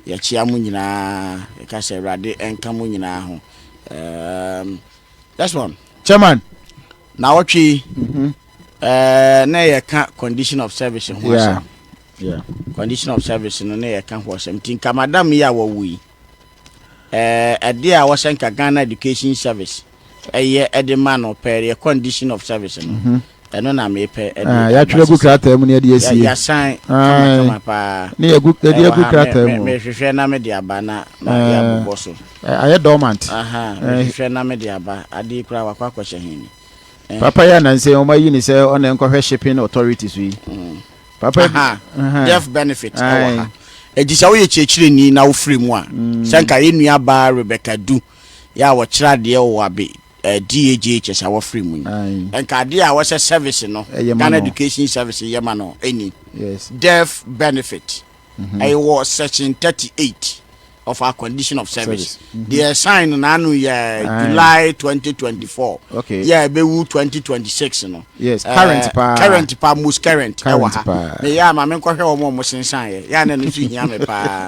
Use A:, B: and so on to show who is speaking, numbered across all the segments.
A: yɛkyea mo nyinaa, yɛka sɛ Awurade nka mo nyinaa ho. Um, that's one. Chairman.
B: Na wɔtwe
A: yi, mm -hmm. uh, na yɛka condition of service ho yeah. asɛm. Yeah. Condition of service no na yɛka ho asɛm. Nti nka madam yi a wɔwo yi, ɛde a wɔsɛ nka Ghana Education Service. ɛyɛ ɛde ma no pɛ yɛ condition of service no mhm. ɛno na meyɛ pɛ ɛde ah, yɛatwerɛ gu krataa
B: mu ne ɛde asie yasan kamakama
A: paa ne yɛgu ɛde agu
B: krataa mu mehwehwɛ na mede aba
A: na mede abobɔ so ayɛ dormant
B: mehwehwɛ
A: na mede aba adeɛ koraa wakɔ akɔhyɛ hene papa yɛ
B: anansɛ ɔma yi ne sɛ ɔna nkɔhwɛ shipping authority so yi mm. papa death
A: benefit ɛwɔ ha ɛti sɛ woyɛ kyerɛkyerɛni na wofiri mu a mm. sɛ nka yɛ nnuabaa rebecca du yɛ a wɔkyerɛ adeɛ wɔ abe eh, DAJHS a wɔfiri mu yi. Aye. Nka adeɛ a wɔsɛ service no, Ɛyɛ ma Ghana no. Education Service yɛ ma no ɛni. Yes. Deaf benefit, ɛyɛ wɔ section 38 of our condition of service. Service. Mhm. Deɛ ɛsan no n'ano yɛ Aye. July 2024, Okay. yɛ a ɛbɛwu 2026 no. Yes, eh, current paa.
B: Current paa, most
A: current ɛwɔ Current ha. paa. Meyɛ a ma menkɔhwɛ wɔn a wɔsensaneɛ, yɛ a na ɛno nso hia me paa.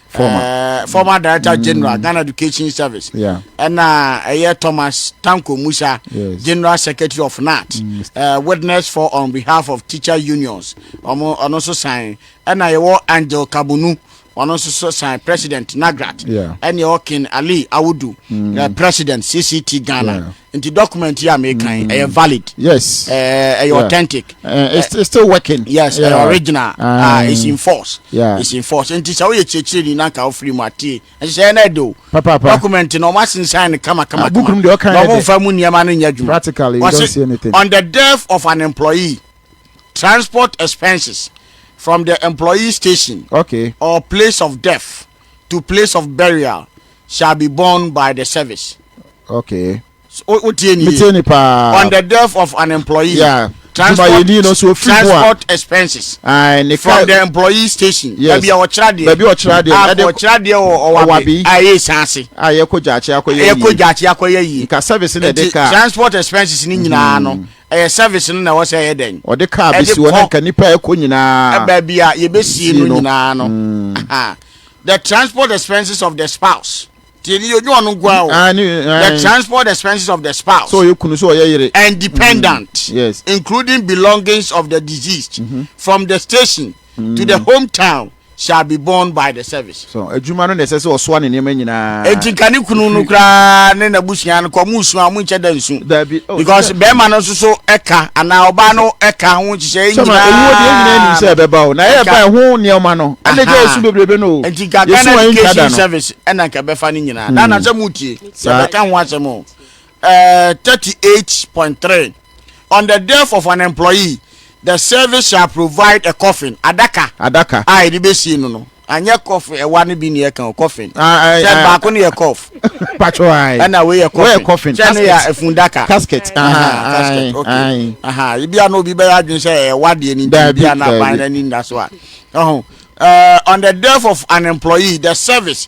A: former uh, former director mm. general ghana education service yeah.
B: and uh,
A: uh, thomas tanko musa yes. general secretary of nat mm. uh, witness for on behalf of teacher unions ọmọ ọno nso san ẹna yẹwọ angel kabunu ɔno nso so san president nagrat ɛne ɔkin
B: ali
A: awudu mm. uh, president cct ghana nti document
B: yi a
A: mekan mm. ɛyɛ valid yes ɛyɛ
B: eh, yeah. authentic uh,
A: it's, it's still
B: working yes yeah. ɛyɛ original
A: ah uh, it's in force yeah. it's in force nti
B: sɛ woyɛ
A: kyerɛkyerɛ ni na nka wofiri mu atie ɛhyehyɛ ɛna ɛde o document no
B: ɔma
A: sensan no kama kama kama na ɔmo
B: nfa mu nneɛma no nyɛ
A: adwuma practically you don't see
B: anything on the death of an
A: employee transport expenses from the employee station okay or place
B: of
A: death to place of burial shall be born by the service. Okay.
B: So, o, o tie
A: ni ye. Metie ni paa. On the death of an employee. Yeah. Transport,
B: Tumayeni no so
A: ofiri mu a. transport expenses. Aye, ne from ka- the employee station. Yes. Baabi a wɔkyerɛ adeɛ. Baabi
B: a wɔkyerɛ
A: adeɛ, A ɛde- wɔkyerɛ adeɛ wɔ Ɔwabi. ɔwabi. A ɛyɛ sanse. a yɛkɔ gyaakye akɔyɛ yie. Ɛyɛ kɔ gyaakye akɔyɛ yie. nka service na ɛde Nti kaa transport expenses ni nyinaa no ɛyɛ service no na ɛwɔ sɛ ɛyɛ dɛn. ɔde kaa ɛde bɛsi hɔ na kɔ-
B: nka nipa a ɛkɔ nyinaa Baabi a yɛbɛsie
A: no no. nyinaa no. Aha. The transport expenses of the spouse. Tie ni yonyo ɔno nko ara o. Ah, ne- ah, The eh. transport expenses of the spouse sɛ ɔyɛ kunu sɛ ɔyɛ yere
B: and dependant,
A: Mm, yes. Mm-hmm. including
B: belongings
A: of the deceased, from the station to the hometown shall be borne by the service. so adwuma no na ɛsɛ sɛ
B: ɔsoa ne nneɛma nyinaa Enti nka ne kunu no
A: koraa ne n'abusua no kɔ mo nsu a mo nkyɛ da nsu. daabi Oh, because bɛrima no nso so ɛka anaa ɔbaa no ɛka ho nhyehyɛ nyinaa sɛma ewuo deɛ nyinaa nim sɛ
B: ɛbɛba o na ɛyɛ ba ɛho nneɛma no ɛna gya esu bebrebe no o nti nka ghana education
A: service ɛna nka bɛfa no nyinaa na anasɛ mu tie yɛbɛka ho asɛm o ɛɛ thirty eight point three on the death of an employee. The service shall provide a coffin, adaka. Adaka. A yɛde bɛsie no no. Anyɛ coff ɛwa no bi ne yɛka o, coffin. Sɛ baako no yɛ coff. Patro ae. Ɛna
B: wei yɛ coffin. Wei yɛ
A: coffin. Sɛ no yɛ afundaka.
B: Casket. Casket,
A: okay. Ebia na obi bɛyɛ adwene sɛ ɛwa deɛ ne nti bia na aban no ani nna so a. Ɛho. Uh, on the death of an employee, the service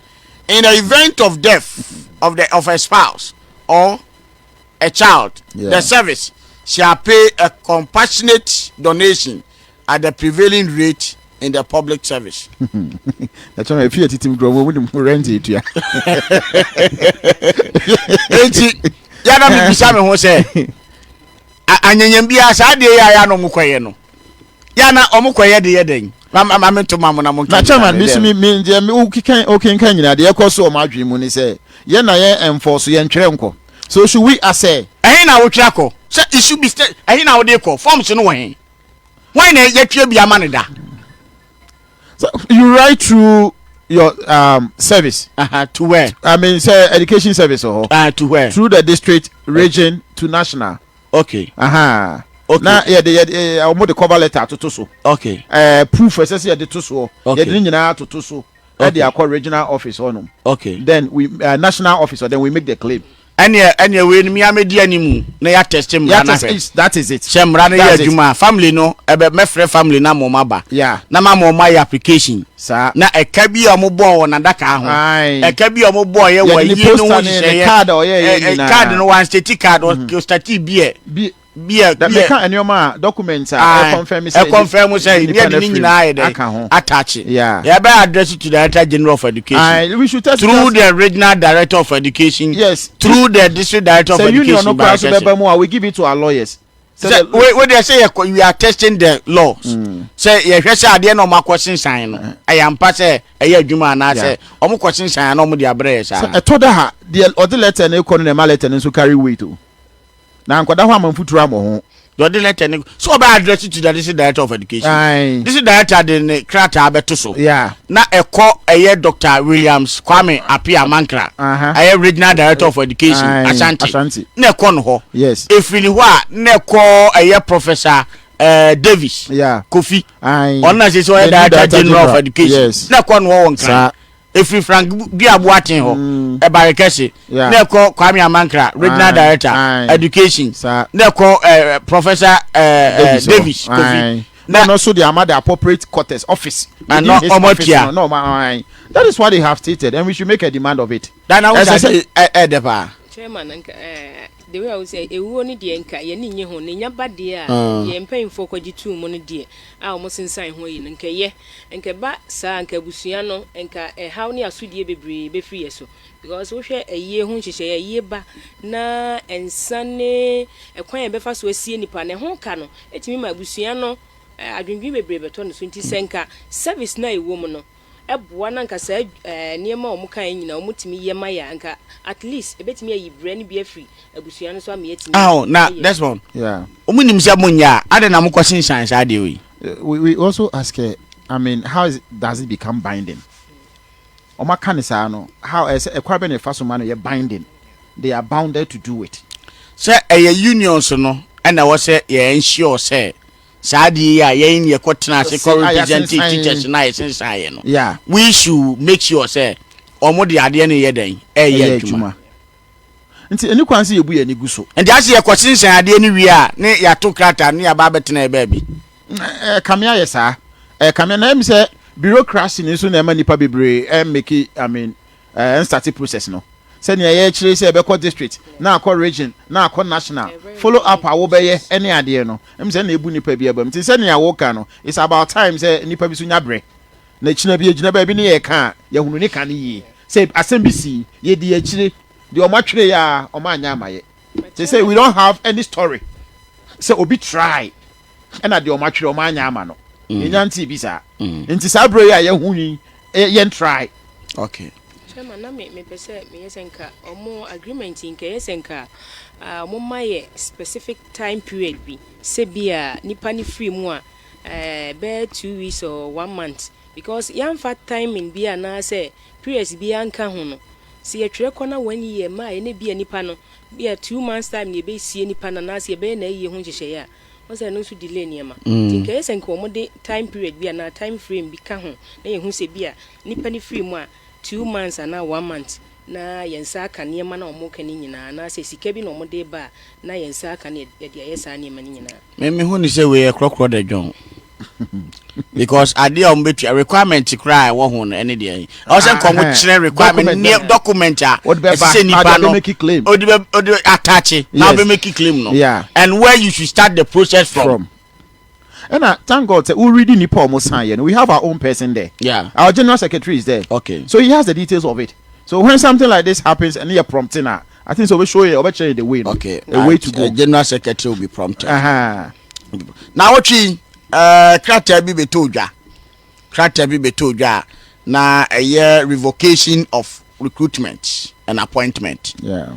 A: in the event of death of the of a spouse or a child, yeah. the service shall pay a compassionate donation at the prevailing rate in the public service. That's
B: why if you are eating grow, we don't rent it. Yeah.
A: Yàrá mi bisa mi ho sẹ́, ànyẹ̀nyẹ̀ bi a sáà di ẹ̀yà yà nà ọmọ kọ̀ yẹ no. yà na wɔn kɔ yɛ de yɛ dɛn ma ma mi to ma mo na mo nkɛ. na chairman mi si mi mi
B: njẹ mi okikan okinkan nyina deɛ ɛkɔ so wɔn adwene mu ni sɛ yɛn na yɛn ɛnfɔ so yɛn ntwerɛ nkɔ so should we asɛ. ɛhin na wotwerɛ akɔ
A: sɛ it should be state ɛhin na wode kɔ forms no wɔ hin wɔn na yɛtwerɛ bi ama ne da.
B: so you write through your um, service. Uh -huh,
A: to where? I mean, say education
B: service or uh, to where? Through the
A: district,
B: region, to national. Okay. Ahaa.
A: Okay.
B: Na yɛde yɛde eh, eh, wɔn de cover letter atoto so. Okay. Ɛɛ eh, proof
A: ɛsɛ sɛ
B: yɛde to soɔ. Okay. Yɛde ne nyinaa atoto
A: so.
B: Okay. Ɛde akɔ regional office hɔ nom. Okay. Then we uh,
A: national
B: office then we make the claim. ɛneɛ ɛneɛ wei no
A: mi amedi animu na yɛ atɛste mmara na hwɛ that is it sɛ
B: mmara no yɛ adwuma
A: family no ɛbɛ mɛfrɛ family na mɔma ba yeah. na ma mɔma
B: yɛ
A: application Saa. Na ɛka
B: bi a
A: wɔbɔɔ wɔ n'adakaa ho, ɛka bi a wɔbɔeɛ wɔ ayie no ho nhyehyɛeɛ,
B: card no, wɔanstati
A: card, wɔstatee beer. Beer, beer. Meka
B: nneɛma a, documents a ɛkɔnfɛm sɛ. Ɛkɔnfɛm sɛ nnipa
A: no nyinaa ayɛ dɛ. Aka ho. Ataakye. Yeah. Yɛbɛ address to Director General of Education. We should test Through
B: the Regional
A: Director of Education. Yes. Through the
B: District
A: Director of Education. Sɛ union no kora so bɛbɛ mu a, we give it to
B: our lawyers. sɛ wodeɛ
A: sɛ yɛ we are testing the laws mm. sɛ yɛhwɛ sɛ adeɛ na ɔmakɔ sensan no eh. ɛyɛ ampa sɛ ɛyɛ adwuma anaasɛ ɔmokɔ sensan na ɔmode abrɛ yɛ saa ɛtɔ da ha deɛ
B: ɔde lɛtɛ no kɔ no na ɛma lɛtɛ no nso carry weight o na nkɔda hɔ ama mfuturo ammɔ ho dɔde lɛtɛ ne
A: so ɔbɛ address to the district director of education district director de ne krataa bɛto so na ɛkɔ ɛyɛ Doctor Williams Kwame Appiah Mankrah, ɛyɛ Regional Director of Education, Ashanti, na ɛkɔ no hɔ. Ɛfiri ne hɔ a,
B: na
A: ɛkɔ ɛyɛ Professor Davis Kofi, ɔno na sɛ sɛ ɔyɛ Director General of Education, na ɛkɔ no hɔ wɔ
B: Nkran.
A: Ɛfiri Frank Dua Boateng hɔ, ɛba Rekɛse, na ɛkɔ Kwame Amankrah, Regional Director, Education, na ɛkɔ Professor Davis Kofi. na ɛno nso de ama
B: the appropriate quarters office to do his office
A: no na ɔma ahan that
B: is what they have stated and we should make a demand of it. dana wo sɛ
A: ɛdɛ paa. chairman nka
C: ɛɛ the way a wosɛ ewuo no deɛ nka yɛn ni nye ho ne nya ba deɛ a mm. yɛn mpanyinfoɔ kɔgye tuu mu no deɛ a wɔn sensan ho yi no nka yɛ nka ba saa nka abusua no nka ɛhaw ne asodie bebree befiri yɛ so Because wohwɛ ayie ho nhyehyɛeɛ a, ayie ba na nsa ne ɛkwan a yɛbɛfa so asie nnipa no, ɛho ka no tumi ma abusua no adwendwene bebree bɛtɔ no so. Nti sɛ nka service no a ɛwɔ mu no boa na nka saa nneɛma a wɔkaeɛ nyinaa wɔtumi yɛ ma yɛ a, nka at least ɛbɛtumi ayi brɛ no bi afiri abusua no so ama yɛatumi ayɛ. Aho, na Desmond,
A: wɔn nim sɛ
B: monyɛ
A: a, adɛn na mokɔ sensan saa adeɛ wei? We also
B: ask her, I mean, how does it become binding? Wɔn aka no saa no, how ɛsɛ ɛkwan bɛn na yɛfa so ma no yɛ binding? They are bounded to do it. Sɛ ɛyɛ
A: unions no ɛna ɛwɔ sɛ yɛ ensure sɛ saa adeɛ yi a yɛn yɛkɔ tena ase kɔ represent teachers no a yɛsensan yɛ no, we should
B: make
A: sure sɛ wɔn de adeɛ no yɛ dɛn? Ɛyɛ adwuma. Nti
B: ɛni kwan sɛ yɛbu yɛn ani gu so. Nti ase yɛkɔ sensan
A: adeɛ no wie a ne yɛato krataa no ne yɛaba abɛtena yɛ baabi. Ɛkame ayɛ
B: saa. Ɛkame na ɛyɛ me sɛ bureaucracy no nso na ɛma nnipa bebree ɛmmake I mean ɛnstarte process no. Sɛnea yɛkyerɛ yi sɛ ɛbɛkɔ district na akɔ region na akɔ national, follow up a wobɛyɛ ne adeɛ no, ɛyɛ me sɛ ɛna ɛbu nnipa bi abam. Nti sɛnea woka no, it's about time sɛ nnipa bi nso nya berɛ na ɛkyina bi ɛgyina baabi ne yɛka a yɛahunu ne ka no yie. Sɛ asɛm bi sii, yɛdii akyire, deɛ wɔn atwerɛ yɛ ara wɔn anyɛ amayɛ. Seesei we don't have any story sɛ obi try. ɛna deɛ ɔma twerɛ ɔma anya ama no mm. yɛnya ntee bi saa mm. nti saa berɛ yi a yɛho nwi yɛntrae okay
A: chairman na me
C: mepɛ sɛ meyɛ sɛ nka ɔmo agreement nka ɛyɛ sɛ nka ɔmo ma yɛ specific time period bi sɛ bi a nipa ne firi mu a bɛyɛ two weeks or one month because yɛamfa timing bi anaasɛ periods bi anka ho no sɛ yɛtwerɛ kɔ na wɔn yi yɛ mmaa yɛ ne bi a nipa no Bi a two months time na yɛbɛsie nipa no anaasɛ yɛbɛyɛ n'ayie ho nhyehyɛeɛ a, woahu sɛ ɛno nso delay nneɛma. Nti nka ɛyɛ sɛ nka wɔde time period bi anaa time frame bi ka ho na yɛhu sɛ bi a nipa no firi mu a two months anaa one month na yɛn nsa aka nneɛma no a wɔreka no nyinaa anaasɛ sika bi na wɔde reba a na yɛn nsa aka na yɛde ayɛ saa nneɛma no nyinaa. Me mehu no sɛ wei yɛ
A: korɔkorɔ dɛ John. because adeɛ a wɔbɛtua requirement koraa a ɛwɔ ho no ɛne deɛ ɛwɔ sɛ nka wɔkyerɛ requirement Document neɛ bɛn? document a Wode bɛba, ɛsɛ sɛ nipa ade no abɛmaki claim. ɔde bɛ- ɔde ataakye na Yes. wobɛmaki claim no Yeah. and where you should start the process from, from ɛna
B: thank god sɛ woredi nipa a ɔmo san yɛ no we have our own person there Yeah. our general secretary
A: is
B: there Okay. so he has the details
A: of
B: it so when something like this happens ɛne yɛ prompting a I think sɛ ɔbɛ show yɛ ɔbɛ kyerɛ yɛ the way no. Okay, a way to go.
A: General
B: secretary will be
A: prompted. Uh-huh. Na ɔtwi ɛɛ eh, krataa bi bɛtɔ odwa krataa bi bɛtɔ odwa a na ɛyɛ revocation of recruitment and appointment. Yeah.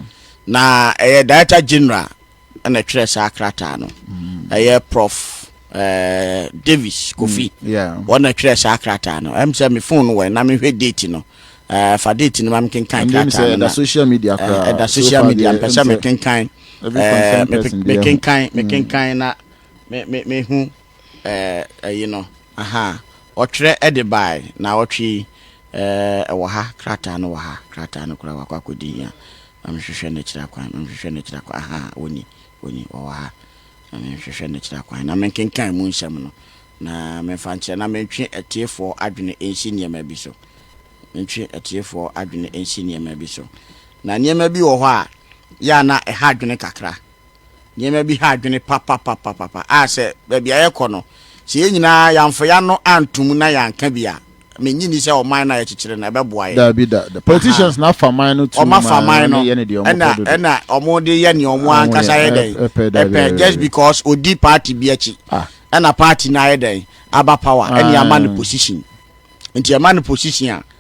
B: Na ɛyɛ
A: director general ɛna ɛtwerɛ saa krataa no mm. ɛyɛ prof eh, davis kofi mm, wɔn na ɛtwerɛ
B: saa
A: krataa no ɛm sɛ me fon no wɔn na mehwɛ date no eh, fa date no ma mekenkan krataa no na
B: ɛda social media
A: eh, mpɛ sɛ mekenkan mekenkan mm. mekenkan na mehu Ɛɛ, ayi no, ahaa, wɔtwerɛ de baeɛ, naawɔtwe yi, ɛɛ, ɛwɔ ha, krataa no wɔ ha, krataa no koraa wakɔ akɔdi hia, ma menhwehwɛ no akyiri akwan, ma menhwehwɛ no akyiri akwan, ahaa, wɔnni, wɔnni, wɔwɔ ha, ma menhwehwɛ no akyiri akwan, na menkenkan mu nsɛm no, na memfa nkyerɛ, na mentwe atiefoɔ adwene nsi nneɛma bi so, mentwe atiefoɔ adwene nsi nneɛma bi so, na nneɛma bi wɔ hɔ a, yɛ a na ɛha adwene kakra. nneɛma bi ha adwene papapapapa a sɛ baabi a yɛkɔ no, sɛ yɛn nyinaa yɛamfa yɛn ano anto mu na yɛanka bi a, mennye nni sɛ ɔman no a yɛkyekyere no ɛbɛboa yɛn. Daabi da, the politicians
B: na afa man no tuo ma wɔyɛ ne deɛ wɔpɛ
A: dodo. Wɔn afa man no, ɛna wɔn de yɛ nea wɔn ankasa yɛ dɛn ɛpɛ, just because ɔdi party bi akyi, ɛna party no ayɛ dɛn aba power, ɛna yɛama no position, nti yɛma no position a,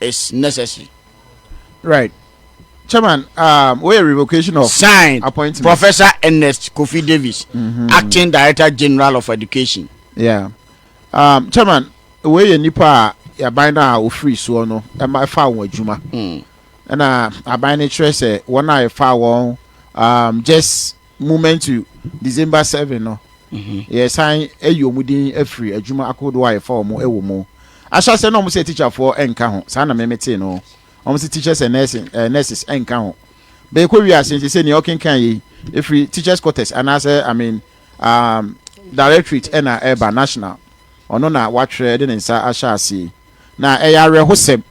A: is necessary. Right.
B: Chairman, um, where revocation of signed appointment. Professor Ernest
A: Kofi Davis, mm-hmm. Acting Director General of Education. Yeah.
B: Um, Chairman, where you nipa ya bind na ofri so no, e ma fa won adwuma. Mm. Na aban ne kyerɛ sɛ wɔn a ɛfa wɔn um, just Moment to December seven no, yɛresan ayi wɔn din afiri adwuma ahodoɔ a yɛfa wɔn wɔ mu. Ahyɛaseɛ no wɔn sɛ tikyafoɔ nka ho, saa na me metee no. Wɔn sɛ teachers and nursing, eh, nurses nka ho. Bɛkɔ wie ase nti sɛ nea ɔkenkan yei ɛfiri teachers quarters anaasɛ I mean um, directorate ɛna ɛba national ɔno na watwerɛ de ne nsa ahyɛ aseɛ na ɛyɛ awerɛhosɛm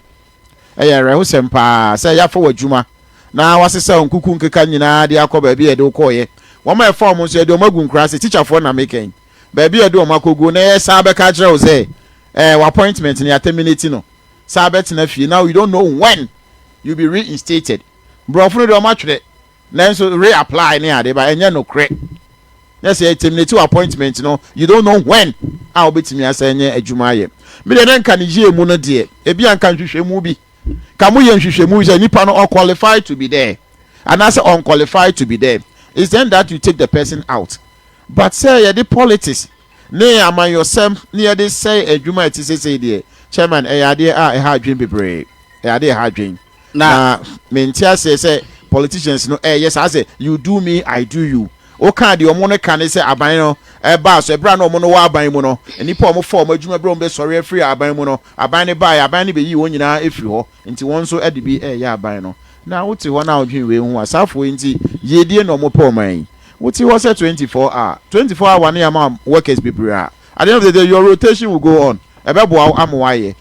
B: Ɛyɛ awerɛhosɛm paa sɛ yɛafa w'adwuma na wɔasesa wo nkuku nkeka nyinaa de akɔ baabi a yɛde wo kɔeɛ. Wɔn a yɛfaa wɔn nso, yɛde wɔn agu nkura ase, tikyafoɔ na meka yi, baabi a yɛde wɔn akɔgu, na yɛsan abɛka akyerɛ wo sɛ, eh, w'appointment no, yɛaterminate no. San bɛtena fie. Now you don't know when you'll be reinstated. Borɔfo no deɛ wɔatwerɛ. Nanso re apply ne ade ba ɛnyɛ nokorɛ na sɛ yɛ terminate wo appointment no you don't know when a wobɛtumi asan anya adwuma ayɛ. Me deɛ na nka ne yie mu no deɛ ebia nka nhwehwɛmu bi ka mo yɛ nhwehwɛmu sɛ nipa no ɔ qualify to be there anaasɛ ɔn qualify to be there is then that you take the person out but sɛ yɛde politics ne amanyɔsɛm ne yɛde sɛe adwuma a ɛte sesei deɛ chairman ɛyɛ adeɛ a ɛha adwene bebree ɛyɛ adeɛ ɛha adwene. Na me nte aseɛ sɛ politicians no ɛyɛ saa sɛ you do me I do you. Wo kaa deɛ ɔmo no ka ne sɛ aban no ɛbaa so ɛberɛ a na ɔmo no wɔ aban mu no nnipa a ɔmo fa ɔmo adwuma berɛ ɔmo bɛ sɔre afiri aban mu no aban no baeɛ aban no bɛ yii wɔn nyinaa ɛfiri hɔ nti wɔn nso ɛde bi ɛyɛ aban no na wo te hɔ na wodwen wei ho asaafoɔ yi nti yie die na ɔmo pɛ ɔman yi wo te hɔ sɛ 24 a 24 hour ne ama workers bebree a at the end of the day your rotation will go on ɛbɛ boa wo ama wayɛ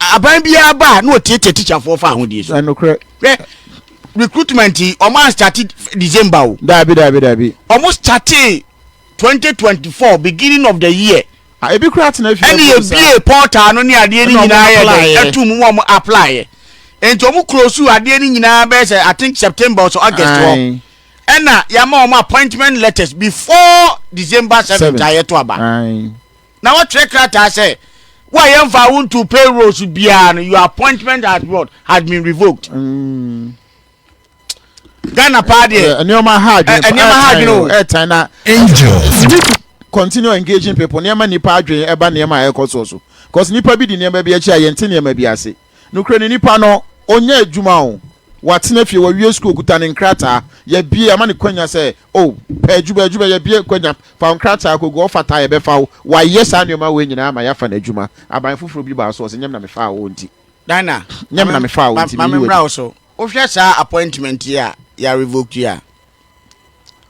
A: Aban biara ba a na wɔtiatia tikyafoɔ fa ahodie so. Nokorɛ. Hwɛ recruitment yi wɔn anstate December o. Daabi daabi daabi.
B: Wɔn statee
A: 2024 beginning of the year. Ah, ebi kura atena
B: fie. Ɛna ebie portal
A: no ne adeɛ ne nyinaa yɛ dɛ ɛtu mu wɔn apply yɛ. Nti wɔn close adeɛ ne nyinaa bɛyɛ sɛ I think September or August hɔ. Ɛna yɛama wɔn appointment letters before December 7th a yɛto aba. na wɔtwerɛ krataa sɛ wo a yɛmfaa wo ntoo payroll so biara no your appointment has what has been revoked mm. ghana paa deɛ nneɛma ha adwene
B: nneɛma ha adwene o ɛtan
A: na angel
B: continue engaging people nneɛma nipa adwene ɛba nneɛma a ɛkɔ soɔ so cause nipa bi di nneɛma bi akyi a yɛn ti nneɛma bi ase. Nokorɛ ni nipa no ɔnya adwuma o, watena fie, wawie sukuu, ɔkuta ne nkrataa, yɛbie, yɛama no kwanya sɛ o, pɛ adwuma, adwuma, yɛbie kwanya, fa wo nkrataa kɔgu, ɔfata a yɛbɛfa wo, wayɛ saa nneɛma wei nyinaa ama yɛafa no adwuma, aban foforɔ bi baa so, ɔse nyɛ me na mefaa wo nti, Dina, nyɛ me na
A: mefaa wo
B: nti, ma meyi wo adi. memmra wo so,
A: wohwɛ saa appointment yi a yɛarevoke yi a,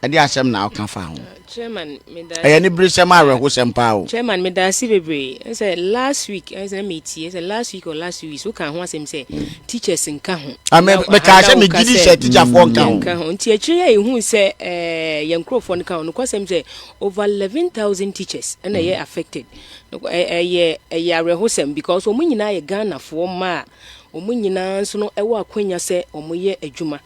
A: Ɛdeɛn asɛm na woka fa ho? Chairman, meda
C: Ɛyɛ ne beresɛm
A: a awerɛhosɛm paa o. Chairman, meda ase
C: bebree. Ɛne sɛ last week, ɛne sɛ na metie, sɛ last week or last two weeks, woka ho asɛm sɛ teachers nka ho. Ah, me- Na- mekaa na sɛ woka
A: megye di sɛ teacherfoɔ nka ho. yɛnka ho. Nti akyire yi
C: a yɛhu sɛ eh, yɛn nkurɔfoɔ no ka ho. Nokwasɛm sɛ over 11,000 teachers ɛna ɛyɛ affected. Nokwa- ɛ- Ɛyɛ ɛyɛ awerɛhosɛm because wɔn nyinaa yɛ Ghanafoɔ mma a Wɔn nyinaa nso no wɔ akwanya sɛ wɔyɛ adwuma.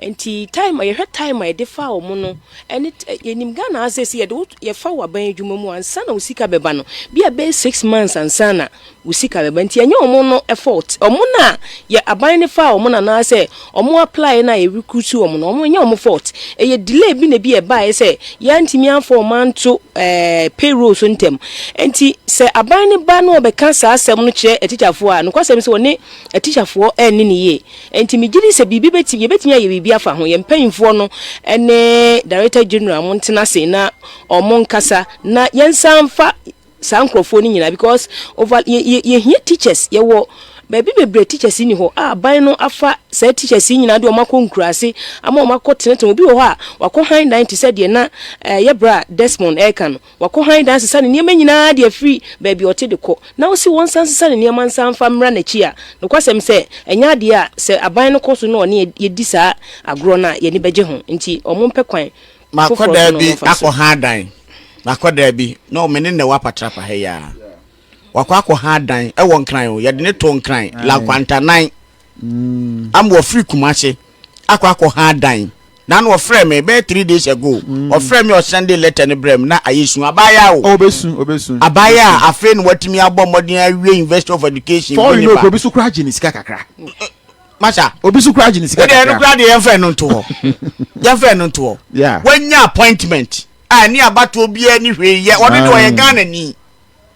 C: Nti time a yɛhwɛ time a yɛde fa wɔn no ɛne yɛnim Ghana ha sɛ sɛ yɛde wo yɛfa wɔ aban adwuma mu ansa na wo sika bɛba no bi a bɛyɛ six months ansa na wo sika bɛba nti ɛnyɛ wɔn no fault wɔn na yɛ aban no fa wɔn anaasɛ Ɔmo apply no a yɛ recruit ɔmo no ɔmo nyɛ ɔmo fault ɛyɛ delay bi na ebi ɛbaeɛ sɛ yɛantumi amfa ɔmo anto ɛɛ payroll so ntɛm ɛnti sɛ aban no ba na ɔbɛka saa asɛm no kyerɛ atikyafoɔ a nokwasɛm sɛ ɔne atikyafoɔ ɛnne no yie ɛnti megye di sɛ biribi bɛtumi yɛbɛtumi ayɛ biribi afa ho yɛn mpaninfoɔ no ɛne director general ɔmo ntena ase na ɔmo nkasa na yɛnsan mfa saa nkorɔfoɔ no nyinaa because over yɛ yɛ yɛhia teachers yɛwɔ baabi bebree teachers ni hɔ a aban no afa saa teachers yi nyinaa de wɔn akɔ nkuraase ama wɔn akɔ tenetene obi wɔ hɔ a wakɔ han dan te sɛ deɛ na ɛɛ yɛ bra Desmond ɛreka no wakɔ han dan sesa ne nneɛma nyinaa de afiri baabi ɔte de kɔ na ɔsi wɔn nsa nsesa ne nneɛma nsa nfa mmra n'akyi a nokwasɛm sɛ ɛnyɛ adeɛ a sɛ aban no kɔ so na ɔne yɛdi saa agorɔ no a yɛni bɛgye ho nti wɔn mpɛ kwan Makɔ daa bi
A: akɔ ha dan. Makɔ daa bi. No, me ne Nɛwa Patrapa ha yi ara. Wakɔ akɔ ha dan. Ɛwɔ Nkran o. Yɛde no too Nkran, Lankwantanan. Am wɔfiri Kumase akɔ akɔ ha dan. Na no ɔfrɛɛ me bɛyɛ three days ago. Ɔfrɛɛ me ɔsɛnde letter no brɛɛ me na ayɛ su. Abaayaa o. Ɔbɛsu, ɔbɛsu. Abaayaa
B: a afei
A: na watumi abɔ mmɔden awie University of Education. Before you know, kuro bi nso koraa
B: gye ne sika kakra. masa
A: obi so kura gye ne
B: sika kakra ɛno kura deɛ yɛmfa ɛno
A: nto
B: hɔ
A: yɛmfa ɛno nto hɔ yeah. wanya appointment a ɛne abatoɔ biara ne hwee yɛ ɔno deɛ ɔyɛ ghana ni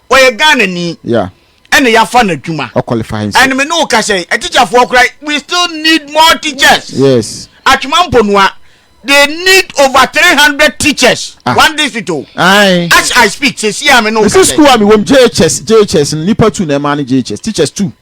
A: ɔyɛ ghana ni yeah. ɛna
B: yɛafa no
A: adwuma ɛne me ne
B: wo ka sɛ
A: atikyafoɔ kora we still need more teachers yes. atwema
B: mponua
A: they need over three hundred teachers ah. one district o Aye. as i speak sesi a me ne wo ka sɛ school a me wɔm
B: jhs jhs nipa two na ɛma ne jhs teachers two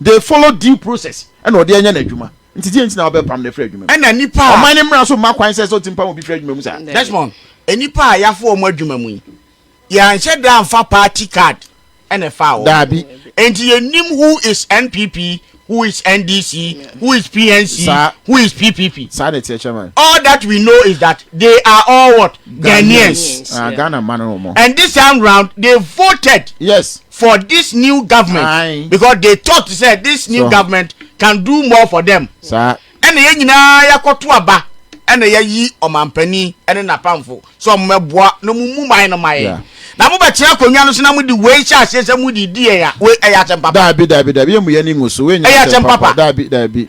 B: They follow due process ɛna ɔde anya n'adwuma nti deɛ nti na wabɛpam no afiri adwuma mu? Ɛna nnipa a. Ɔman no
A: mmara nso mma kwan
B: sɛ sɛ ɔtumi pam obi firi adwuma mu saa. Desmond, nnipa
A: a yɛafa wɔn adwuma mu yi, yɛanhyɛ da amfa party card na ɛfaa wɔn. Daabi. Enti
B: yɛnnim
A: who is NPP, who is NDC, who is PNC, Saa. who is PPP. Saa na ɛteɛ chairman.
B: All that we know is
A: that they are all what? Ghanaians. Ghanaians. Ah, Yeah. Ghana mma no
C: wɔn. And
B: this time round, they
A: voted Yes. for this
B: new
A: government Aye. because they
B: thought sɛ
A: this new so. government can
B: do
A: more for them ɛna yɛn
B: nyinaa
A: yɛakɔto aba ɛna yɛayi ɔmampanin ɛne n'apamfo sɛ ɔmo mɛboa na ɔmo mu man no ma yɛn yeah. na mo bɛtena akonnwa no so na mo di wei hyɛ aseɛ sɛ mo di di yɛn a wei ɛyɛ asɛm papa. daabi daabi daabi yɛn mu yɛn ni
B: ngusu wei nyɛ asɛm papa daabi
A: daabi.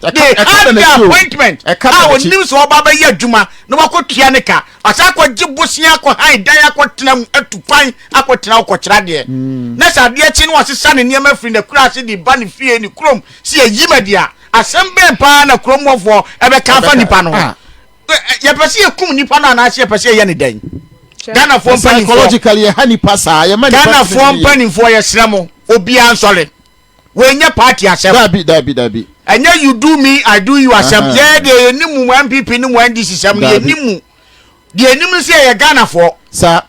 A: They had the appointment a onim sɛ ɔba bɛyɛ adwuma na wakɔtua ne ka. Ɔsan akɔgye bosea akɔhan dan akɔtena mu atu kwan akɔtena hɔ kɔkyerɛ adeɛ. Hmm. Na sɛ adeɛ kye na wasesa ne nneɛma firi n'akurase de ba ne fie ne kurom sɛ yɛyi ma deɛ a, asɛm bɛn paa na kurom hɔfoɔ ɛbɛka afa nipa no ho? Ah. Yɛpɛ sɛ yɛkum nipa no anaasɛ yɛpɛ sɛ yɛyɛ ne dɛn? Ghanafoɔ mpanimfoɔ. Psychologically yɛha
B: nipa saa. Ghanafoɔ mpanimfoɔ
A: yɛsrɛ mo obiara nsɔre. Wei nyɛ party asɛm. Dabi dabi dabi.
B: Ɛnyɛ you do
A: me I do you asɛm. Yɛɛ deɛ yɛnim mu mo NPP ne mo NDC sɛm no yɛnim mu. Deɛ yɛnim ne sɛ yɛyɛ Ghanafoɔ. Saa.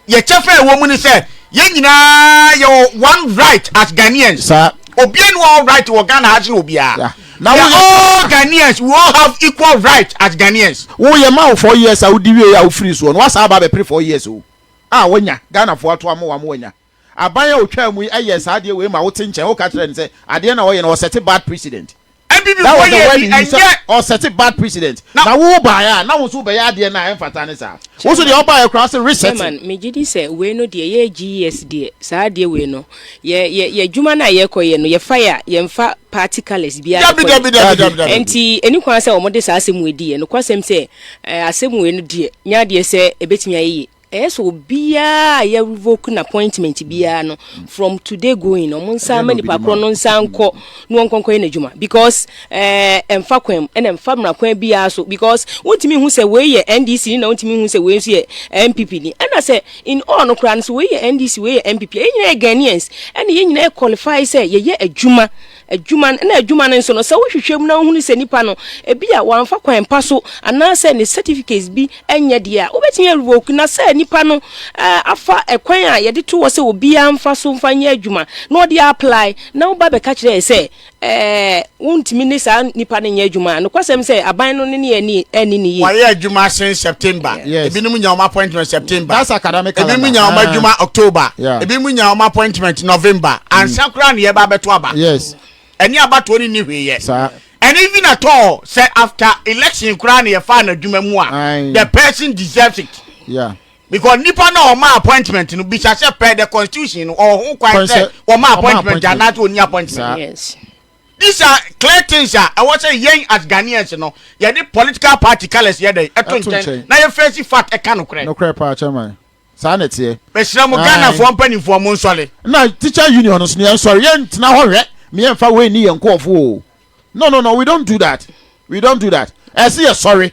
B: Yɛ kyɛfa
A: a ɛwɔ mu ne sɛ yɛn nyinaa yɛwɔ one right as Ghanaians. Saa. Obiara ni
B: all right
A: wɔ Ghana ha sene obiara. Na we all Ghanaians we all have equal right as Ghanaians. Wo yɛ ma wo four
B: years a wodi wie a wofiri soɔ no wasan aba abɛpere four years o. A wanya Ghanafoɔ ato amoa mo wanya. Aban a otwaa mu yi yɛɛ saa adeɛ wei ma wo te nkyɛn wo ka kyerɛ no sɛ adeɛ na ɔyɛ no ɔsɛte bad precedent. That was
A: the
B: word he
A: used
B: sɛ ɔsɛte
A: bad precedent.
B: Na wo wo baeɛ a
A: na wo
B: nso wo bɛyɛ adeɛ no a ɛmfata ne saa. Wo nso deɛ wo baeɛ koraa ɔse resetting. Chairman, me gye di sɛ
C: wei no deɛ yɛ GES deɛ saa adeɛ wei no yɛ yɛ yɛ adwuma no a yɛkɔ yɛ no yɛ fa yɛ a yɛn fa party colours biara Dabi nkɔ dabi yɛ. dabi dabi dabi.
A: Ɛnti ɛni kwan
C: sɛ wɔn de saa asɛm wei di yɛ. Nokwasɛm sɛ ɛɛ asɛm wei no deɛ nyɛ adeɛ sɛ ɛbɛtumi ayɛ yie. Ɛyɛ sɛ obiara a yɛ revoke no appointment biara no from today going no ɔmo nsa ama nipa korɔ no nsa nkɔ na wɔn nkɔnkɔ yɛ n'adwuma because ɛɛ eh, ɛnfa kwan mu ɛna ɛnfa mmara kwan biara so because wontumi hu sɛ wei yɛ NDC ni na wontumi hu sɛ wei nso yɛ NPP ni ɛna sɛ in all no koraa no sɛ wei yɛ NDC wei yɛ NPP yɛ nyinaa yɛ Ghanaians ɛna yɛ nyinaa yɛ qualify sɛ yɛyɛ adwuma Adwuma no, na adwuma no nso no, sɛ wohwehwɛ mu na wohunu sɛ nipa no, ebia wamfa kwan pa so anaasɛ ne certificates bi nyɛ deɛ a, wobɛtumi arevoke. Na sɛ nipa no afa kwan a yɛde to hɔ sɛ obiara mfa so mfa nyɛ adwuma na ɔde aapply na woba bɛka kyerɛ yɛn sɛ wontumi ne saa nipa no nyɛ adwuma a, nokwasɛm sɛ aban no ne ne yɛ anni no yie. Wayɛ adwuma sen
A: September. Yes. Ebinom nya wɔn
B: appointment
A: September. That's academic calendar. Ebinom
B: nya wɔn ah. adwuma
A: uh, October. Yeah. Ebinom nya wɔn
B: appointment
A: November. Mm. Ansa koraa na yɛba abɛto aba. Yes. Ɛne
B: abatoɔ
A: ne ni hwee yɛ. Saa. And even
B: at all,
A: say after election koraa na yɛfa na adwuma mu a, the person
B: deserves
A: it. Yeah because
B: nipa náà
A: ọmọ appointment no bisa sẹ pẹ the constitution no ọhún kwan sẹ ọmọ appointment anaasẹ
B: ọni
A: appointment.
B: Yes.
C: These are
A: clear things a ɛwɔ sɛ yɛn as Ghanaians no yɛde political party colours yɛ dɛn ɛto nkyɛn na yɛ face
B: fact ɛka
A: nokorɛ. Nokorɛ paa chairman.
B: Saa na ɛteɛ. Mesrɛ mo Ghanafoɔ
A: mpanimfoɔ mo nsɔre. Na teacher union
B: no so no yɛn sɔre yɛn ntena hɔ hwɛ me yɛn fa wei ni yɛn nkorɔfoɔ o. No no no we don't do that we don't do that ɛse yɛ sɔre.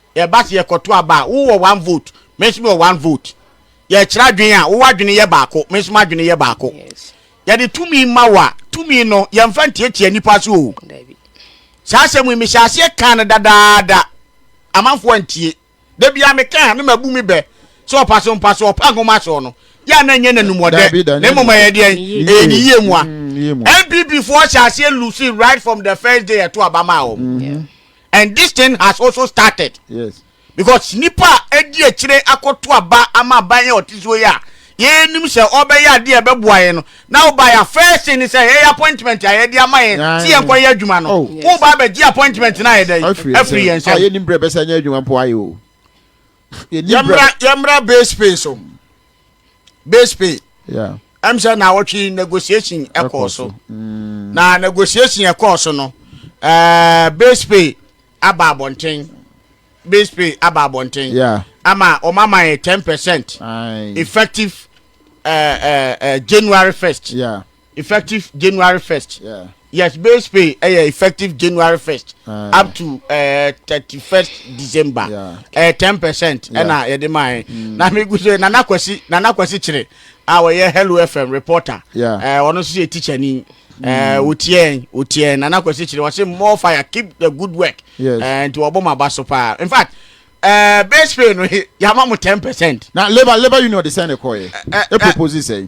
A: Ɛba sɛ yɛkɔto aba a, wo wɔ one vote, me nso mewɔ one vote. Yɛkyerɛ adwene a, wo w'adwene yɛ baako, me nso m'adwene yɛ baako. Yɛde
C: tumi ma
A: wo a, tumi no, yɛmfa ntiatia nnipa so o.
C: Saa asɛm yi,
A: mehyɛɛ aseɛ kaa no dadaada. Amanfoɔ antie. Da biara meka a, na mabu me bɛ sɛ ɔpa so mpa so, ɔpa nhoma so no, yɛ a na ɛnyɛ n'anumɔdɛ, na mmom ɛyɛ deɛn? Ɛyɛ ne yie mua. NPP foɔ hyɛɛ aseɛ lose right from the first day yɛto aba maa wɔn. And this thing has also started yes. because nipa a edi akyire akɔto aba ama aban yɛ ɔte so yi a yɛnim sɛ ɔbɛyɛ adeɛ a ɛbɛboa yɛn no na woba yɛ first thing sɛ yɛyɛ appointment a yɛde ama yɛn sɛ yɛnkɔ yɛ adwuma no oh, woba abɛgye appointment no ayɛ dɛ afiri yɛn nsɛm yɛnim berɛ bɛsɛ nyɛ adwuma
B: mpo ayɛ o yɛmmra yɛmmra
A: base pay so base pay yeah. ɛm sɛ
B: na awɔtwe
A: negotiation ɛkɔɔ so mm. na negotiation ɛkɔɔ so no ɛɛ eh, base pay aba abɔnten base pay aba abɔnten yeah. ama
B: wɔn ama yɛ
A: ten percent effective ɛɛ eh, ɛɛ eh, ɛɛ january first. Yeah. Effective
B: January
A: first, yes base
B: pay
A: ɛyɛ effective January first up to ɛɛ eh, thirty first December ɛɛ eh, ten percent ɛna yɛde maa yɛ mm. na mi gu so nana kwasi nana kwasi kyerɛ a wɔyɛ Hello FM reporter ɛɛ eh, ɔno nso yɛ teacher ni. Eh, mm. wotiɛn wotiɛn nana kwesi kyerɛ wɔsi more fire keep the good work yes. Eh, nti wɔbɔ mu aba so paa in fact uh, eh, base pay no yaba mu ten percent. na labour labour
B: union de sɛn de kɔ yɛ e propose sɛn.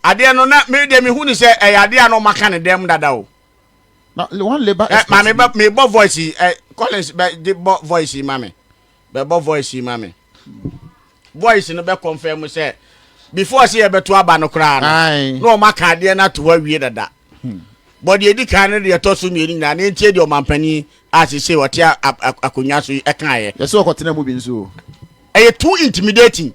B: Adeɛ
A: no na me deɛ mehu no sɛ ɛyɛ adeɛ a na ɔma ka ne dɛm dada o. Na
B: one labour expert bi. Maame bɛ mi bɔ
A: voice yi ɛ Collins bɛ de bɔ voice yi ma mi bɛ bɔ voice yi ma mi voice no bɛ confirm sɛ before sɛ yɛ bɛ to aba no koraa no na ɔma ka adeɛ no ato hɔ awie dada hmm. bɔ deɛ edi kan no deɛ ɛtɔ so mmienu nyinaa na ntie deɛ ɔmampanin a sese ɔte akonnwa so yi ɛkaeɛ. yɛsɛ ɔkɔtena mu bi nso.
B: ɛyɛ too
A: intimidating.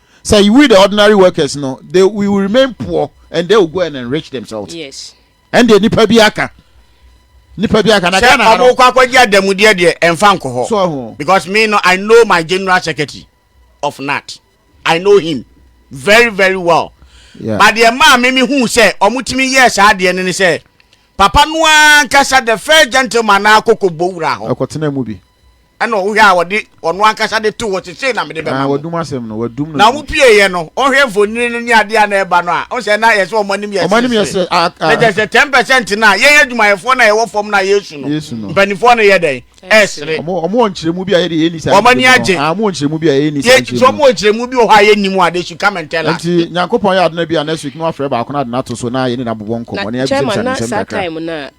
B: Sɛ we the ordinary workers no they we will remain poor and they will go and enrich themselves. Yes. Ɛnde
C: nipa bi
B: aka. Nipa bi aka na Ghana ha no. Sɛ ɔmo kɔ akɔgye
A: adamudeɛ deɛ ɛnfa nkɔ hɔ. So ho. Because me
B: no I
A: know my general secretary of NAT. I know him very very well. Yeah. But deɛ
B: maa me me
A: hu sɛ ɔmo tumi yɛ saa deɛ no ne sɛ papa no ankasa the first gentleman na akɔkɔ bɔ wura hɔ. Ɛkɔtena mu bi.
B: Ɛnna ɔhwɛ a wɔde
A: wɔn ankasa de too hɔ te sei na mede bɛma mo. Wɔdum asɛm no, wɔadum no.
B: Na wɔpieeɛ no,
A: ɔhwɛ mfonini no ne adeɛ a na ɛba no a, ɔhu sɛ na ɛyɛ sɛ wɔn anim yɛ seresere. Na kyerɛ sɛ ten percent no a yɛn adwumayɛfoɔ no a yɛwɔ fam no a yɛresu no, mpanimfoɔ no yɛ dɛn? Ɛresere. Wɔn wɔ nkyerɛmu bi
B: a yɛde yɛnni saa nkyerɛmu. Wɔn ani agye. Wɔn wɔ nkyerɛmu
A: bi a yɛnni
B: saa nkyerɛmu. Wɔn wɔ nkyerɛmu bi wɔ
A: hɔ a yɛnni mu a, they should come and tell us. Nti Nyankopɔn yɛ adena
B: bi a next week na wafrɛ baako na ade no ato so na yɛne no abobɔ nkɔmmɔ na yɛabisabisansɛm kakra. Na kyɛma na saa time no a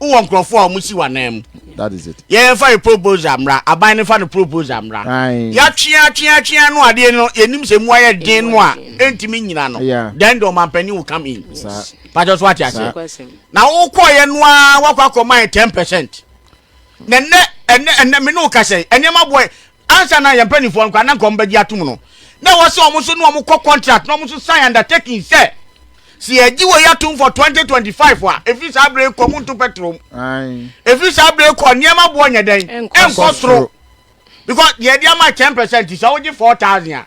A: wowɔ nkurɔfoɔ
B: a wɔsi
A: w'anan mu yɛfa
B: yɛ proposal
A: mmra aban no fa no proposal mmra yɛatweatweatwea no adeɛ no yɛnim sɛ mu ayɛ den no a ɛntumi nyina no then the ɔmampani will come in pakyɛ so ate aseɛ na wokɔɔyɛ no a woakɔ akɔma yɛ 10 percent na ɛnɛ ɛnɛ ɛnɛ me ne wo ka sɛ nneɛma boɛ Ansa na yɛn mpanimfoɔ no koraa na nka wɔn bɛgye atom no, na ɛwɔ sɛ wɔn nso ne wɔn kɔ contract na wɔn nso sign undertaking sɛ, sɛ yɛgye wei atom for 2025 a, ɛfiri saa berɛ yi kɔ mu nto petrol mu. Ɛfiri saa berɛ yi kɔ nneɛma boɔ nyɛ dɛn? Ɛnkɔ soro. Because deɛ yɛde ama 10% sɛ wogye 4,000 a,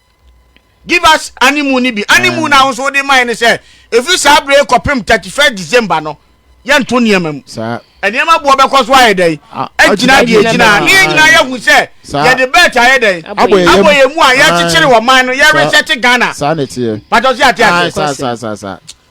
A: Give us animu no bi. Animu no a wo nso wode mae ne sɛ, ɛfiri saa berɛ yi kɔpem 31 December no, yɛnto nneɛma mu. Nneɛma boɔ
B: bɛkɔ so
A: ayɛ dɛn? Agyina deɛ ɛgyina. Ne yɛn nyinaa yɛahu sɛ yɛde bɛɛt ayɛ dɛn? Abɔ yɛn mu a yɛrekyekyere ɔman no, yɛresɛte Ghana. Patɔ
B: sɛ ate
A: ase.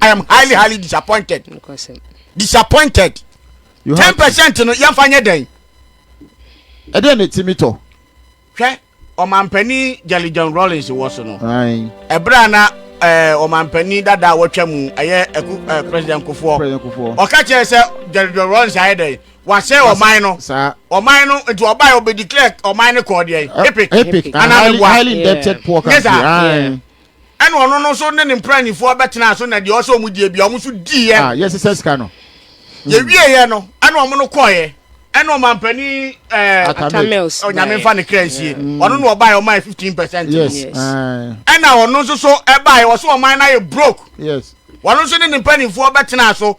A: i am highly highly disappointed disappointed ten percent no yɛmfa nyɛ dɛn
B: ɛdeɛ ne timi tɔ hwɛ
A: ɔmampanin jelly john rollins wɔ so no ɛberɛ a na eh, ɔmampanin dada a wɔtwa mu ɛyɛ eh, president kofoɔ ɔka kyerɛ sɛ jelly john rollins ayɛ dɛn wasɛ ɔman no ɔman no nti ɔbae ɔbɛdeclare ɔman no kɔɔ deɛ epic anaa meboa
B: nyɛ saa
A: Ɛna ɔno no nso ne ne mpranifoɔ bɛtenaa so na deɛ ɔsɛ ɔmo die bia ɔmo nso diiɛ. Ah, yɛsesa sika no.
B: Mm. Yɛwieɛ
A: no, ɛna ɔmo no kɔɔɛ. Ɛna ɔmampanin ɛɛ Atamils
C: onyame nfa ne kra
A: nsie. Mm. Ɔno na ɔbaeɛ ɔmaeɛ fifteen percent. Yes.
B: Ɛna
A: ɔno nso so ɛbaeɛ ɔsɛ ɔman no ayɛ broke. Yes. Ɔno
B: nso ne ne
A: mpanimfoɔ bɛtenaa so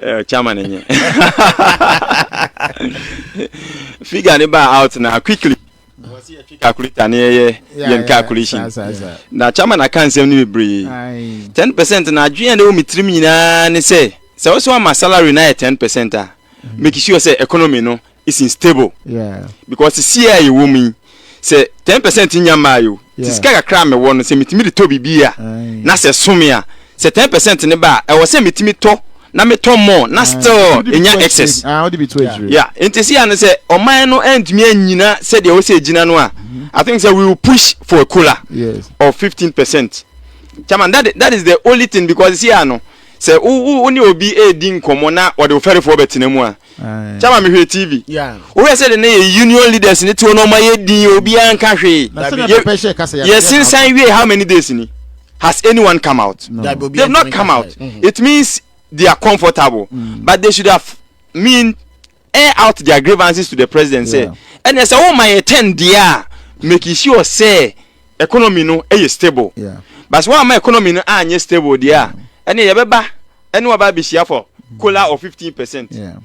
A: Eh, chama ne
D: nye figure ne ba out na quickly wɔsi yɛ twi calculator ne yɛyɛ yɛn calculation na chama na ka nsɛm no bebree ten percent na adwene a ne wɔ mi tirim nyinaa ne sɛ sɛ wɔsɔ ama salary na yɛ ten percent a mm. make sure sɛ economy no is unstable yeah. because
B: sesie a
D: yɛwɔ mu yi sɛ ten percent nya mmaa yi o ti sika kakra a mewɔ no sɛ metumi de tɔ biribi a na sɛ some a sɛ ten percent ne ba a ɛwɔ sɛ metumi tɔ na metɔ more na still enya excess yeah
B: nti si ano sɛ
D: ɔman no ntumi anyina sɛdeɛ ɛwɔ sɛ egyina no a i think sɛ we will push for a cola yes. of fifteen
B: percent
D: chairman that, that is the only thing because si ano Sɛ wo ne obi redi nkɔmmɔ na ɔde wo fɛrefoɔ bɛtena mu a, kyɛ ma mehwɛ TV. Wohwɛ sɛ de ne
A: yɛ
D: union leaders ne tuo no ɔma yɛ din obiara nka hwee. Yɛ sensan wie how many days ni? Has anyone come out? They've not come
B: out.
D: Mm-hmm. It means
A: they
D: are comfortable, mm. but they should have mean air out their grievances to the president sɛ ɛnɛ sɛ woma yɛ ten deɛ a make sure sɛ economy no yɛ stable yeah. but sɛ woama
B: economy
D: no anyɛ stable deɛ a mm. ɛne yɛbɛba ɛne waba abɛhyia for mm. cola of fifteen percent yeah.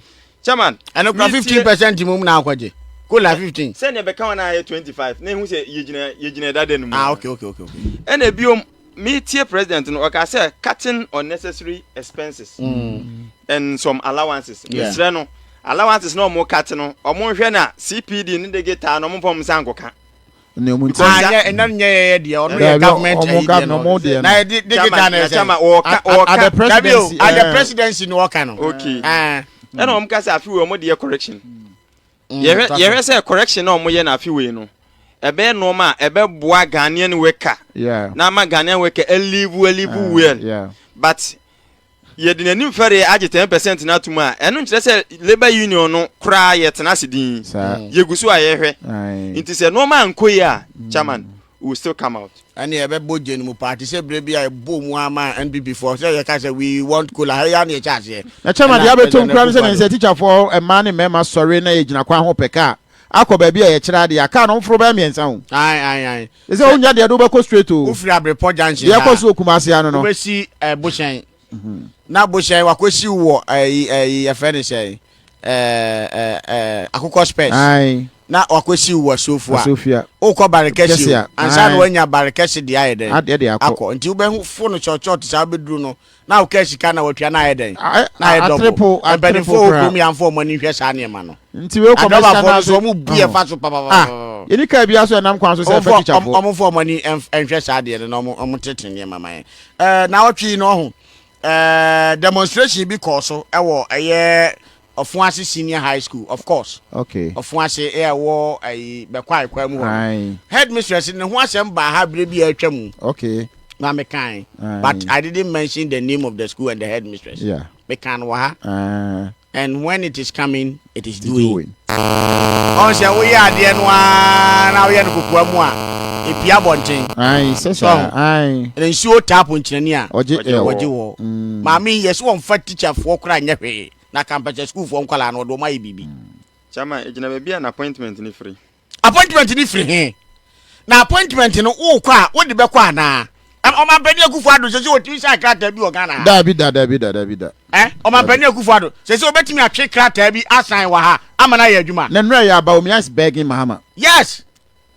D: chairman
B: ɛno
D: kora fifteen
A: percent mu na akɔgye kola fifteen. sɛ nea bɛka wɔn a yɛ twenty
D: five na ehu sɛ yɛgyina yɛgyina ɛdada
A: no
D: mu. ah okay okay okay. ɛna ebiom Me tie president no ɔka sɛ cutting unnecessary expenses mm. and some allowances mesrɛ no allowances na ɔmo cut no ɔmo nhwɛ na cpd ne digital na ɔmo mpɔm nsa nkoka
B: ɛna nyɛ yɛyɛ
A: deɛ ɔno yɛ government ɛyideɛ na yɛde digital na ɛsɛ at
B: the
A: presidency na ɔka no
D: ɛna ɔmo ka sɛ afi wɔ ɔmo deɛ correction Mm, yɛhwɛ twa so. yɛhwɛ sɛ correction a wɔyɛ no afe wei no ɛbɛyɛ nneɛma a ɛbɛboa ghanaian worker Yeah. na ama ghanaian worker alive alive Ah, well yeah. but yɛde n'anim fɛre agye 10 percent no atom a ɛno nkyerɛ sɛ labour union no koraa yɛtena ase din Saa. yɛgu so a yɛhwɛ Aye. nti sɛ nneɛma ankɔ yi a chairman u will still come out. Ɛne yɛbɛbɔ gye no
A: mu paa te sɛ berɛ bi a yɛbɔɔ mu ara maa NPP foɔ sɛ yɛka sɛ we want Kola ha yi ara na yɛhyɛ aseɛ. Na Chairman deɛ abɛtɔ mu
B: koraa ne sɛ ne nsɛ tikyafoɔ mmaa ne mmarima sɔre na yɛgyina kwan ho pɛ kaa akɔ baabi a yɛkyerɛ adeɛ a kaa no mforo bɛyɛ mmiɛnsa o. Ae ae ae. Ɛsɛ
A: sɛ wonya deɛ ɛde
B: wobɛkɔ straight o. Wofiri Abrepɔ junction ha a, deɛ
A: ɛkɔ so wɔ Kumase ha
B: no no. wobɛsi ɛɛ
A: Bohyɛn. Na bohyɛn wakɔsiw wɔ ayi ayi yɛfrɛ no sɛn ɛɛ ɛɛ akokɔ spɛs na
B: wakɔsiw
A: wɔ asofua wokɔ bare kɛse o ansa na wanya bare kɛse deɛ ayɛ dɛn akɔ nti wobɛhu
B: fo
A: no kyɔkyɔt saa wobɛduru no na wokaa sika na watwa na ayɛ dɛn na ayɛ dɔbo mpanimfoɔ wɔ kurom yɛamfa wɔn ani nhwɛ saa nneɛma no adɔbafoɔ
B: no so wɔn bu yɛ fa so
A: papapapa yɛni kaa biara so
B: ɛnam kwan so sɛ ɛfɛ tikyafoɔ wɔn fɔ wɔn ani
A: nhwɛ saa deɛ no na wɔn tete nneɛma ma yɛn Ɛɛ, naawɔtwe yi na ɔho ɛɛ demonstration bi kɔɔ so ɛwɔ ɛyɛ Ɔfoase Senior High School, of course. Okay. Ɔfoase
B: ɛyɛ ɛwɔ
A: ɛyi Bɛkwae kwan mu hɔ. Aye. Headmistress ne ho asɛm baa ha bere bi a atwa mu. Okay. Na me
B: kan.
A: But I didn't mention the name of the school and the headmistress. Yeah. Me kan no wɔ
B: ha.
A: Aye. And when it is coming, it is doing. Ɔn sɛ wo yɛ adeɛ no aa na wo yɛ no kokoa mu a, epie abɔnten. Ae, sɛ saa, Sɔho?
B: ae. Ɛna nsuo
A: tap nkyerɛni a, Ɔgye ɛ wɔ. ɔgye wɔ.
B: Mm. Maame
A: yi, yɛse wɔmfa teacher foɔ koraa nyɛ hwee, na kampɛsɛ school foɔ nkwadaa no, wɔde wɔn ayɛ biribi. Chairman, egyina
D: baabi a n'appointment no firi. Appointment no firi he?
A: Na appointment no wookɔ a wode bɛkɔ anaa? Ɔmampanin Akufo Addo sɛ sɛ ɔtumi sign krataa bi wɔ Ghana ha? Daabi da, daabi da, daabi
B: da.
A: Eh? Ɔmampanin Akufo Addo sɛ sɛ ɔbɛtumi atwe krataa bi asan wɔ ha ama no ayɛ adwuma? Na nnura yɛ aba o, me eyes
B: begging Mahama. Yes!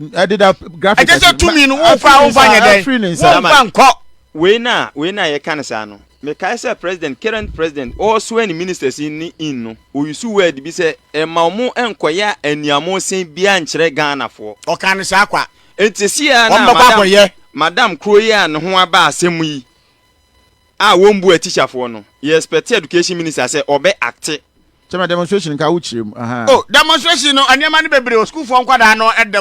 A: Ɛde da
B: graphic. Ɛkyɛ sɛ tumi no wookɔ
A: a womfa nyɛ dɛn? Womfa nkɔ. Wei na wei
D: na yɛka no saa no. Mekae sɛ president, current president, ɔresoɛ ne ministers yi ne in no, ɔusuu word bi sɛ mma ɔmo nkɔyɛ aniamoosen biaa nkyerɛ Ghanafoɔ. Ɔkaa no saa kwa.
A: Enti sesie ara no a
D: madam. Ɔmo bɛkɔ akɔyɛ. Madam koro yi a ne ho aba asɛm yi a wɔmbua teacherfoɔ no, yɛ expect education minister sɛ ɔbɛ acte. Kyɛma demonstration
A: nka
B: wo
A: kyerɛ mu ahaa. Oh demonstration
B: no
A: nneɛma no bebree
B: o
A: sukuufoɔ nkwadaa no da mu.